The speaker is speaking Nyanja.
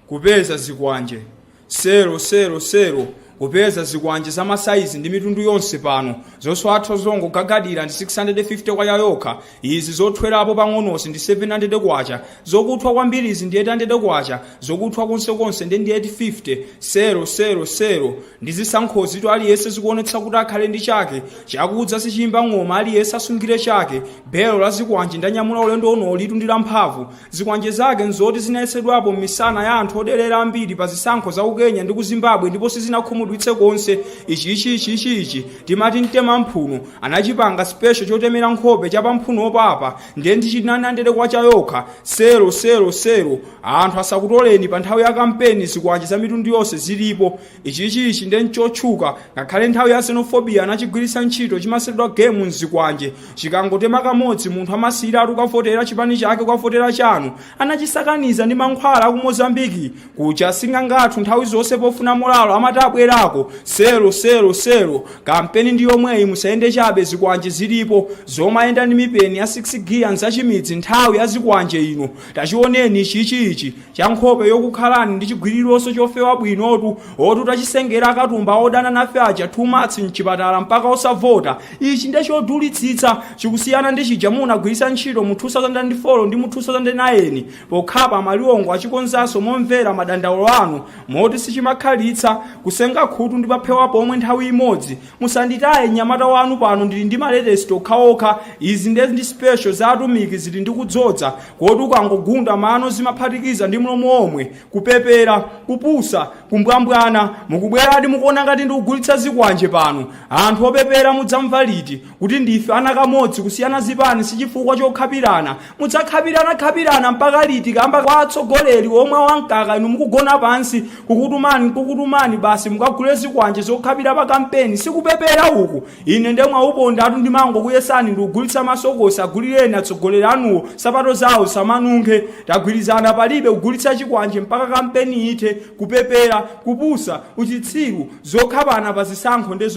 kupeza zikwanje selo selo selo kupeza zikwanje za masaizi ndi mitundu yonse pano zosathwa zongogagadira ndi 650 kwacha yokha izi zothwerapo pang'onozi ndi 700 kwacha zokuthwa kwambirizi ndi 800 kwacha zokuthwa konsekonse ndi ndi 850 selo selo selo ndi zisankhozitu aliyense zikuonetsa kuti akhale ndi chake chakudza sichimba ng'oma aliyense asungire chake belo la zikwanje ndanyamula ulendo unolitu ndi lamphamvu Zikwanje zake n'zoti zinayesedwapo m'misana ya anthu oderera ambiri pa zisankho za ku Kenya ndi ku Zimbabwe ndipo sizinakhumudwitse konse. Ichi, ichi, ichi, ichi, ichi, timati mtema mphuno, anachipanga special chotemera nkhope cha pamphunopa apa, ndiye ndi cha 900 kwacha yokha, selo, selo, selo, anthu asakutoleni pa nthawi ya kampeni zikwanje za mitundu yonse zilipo, Ichi ichi ichi nde nchotchuka ngakhale nthawi ya xenophobia anachigwiritsa ntchito chimatchedwa game mzikwanje chikangotema kamodzi munthu amasiyiratu kukavotera chipani chake kukavotera chanu anachisakaniza ndi mankhwala aku Mozambique kuja asing'anga athu nthawi zonse pofuna molalo amati abwerako selo selo selo kampeni ndi yomweyi musayende chabe zikwanje zilipo zomayenda ndi mipeni ya 6 gear nzachimidzi nthawi ya zikwanje ino Tachioneni ichi ichi, cha nkhope yokukhalani ndi chigwirironso chofewa bwinotu, otu tachisengera akatumba odana nafe aja two months mchipatala mpaka osavota, ichi nde chodulitsitsa, chikusiyana ndi chija munagwiritsa ntchito mu 2004 ndi mu 2009, pokhapa amaliwongo achikonzanso momvera madandaulo anu, moti sichimakhalitsa, kusenga khutu ndi paphewa pomwe nthawi imodzi, Musanditaye mnyamata wanu pano ndili ndi ma latest okhaokha, izi nde ndi special za atumiki zili ndi kudzoza koti ukangogunda mano zimaphatikiza ndi mlomo womwe, kupepera, kupusa, kumbwambwana, mukubweradi mukuona ngati ndikugulitsa zikwanje pano? Anthu opepera mudzamva liti kuti ndife ana kamodzi kusiyana zipani sichifukwa chokhapirana mudzakhapirana khapirana mpaka liti kamba kwa atsogoleri omwa wamkaka inu mukugona pansi kukutumani kukutumani basi mukagule zikwanje zokhapira pa kampeni sikupepera uku ine nde mwaupondatu ndimangokuyesani ndikugulitsa masokosi agulireni atsogoleri anuwo sapato zawo samanunkhe tagwirizana palibe kugulitsa chikwanje mpaka kampeni ithe kupepera kupusa uchitsiru zokhapana pa zisankho nde zopu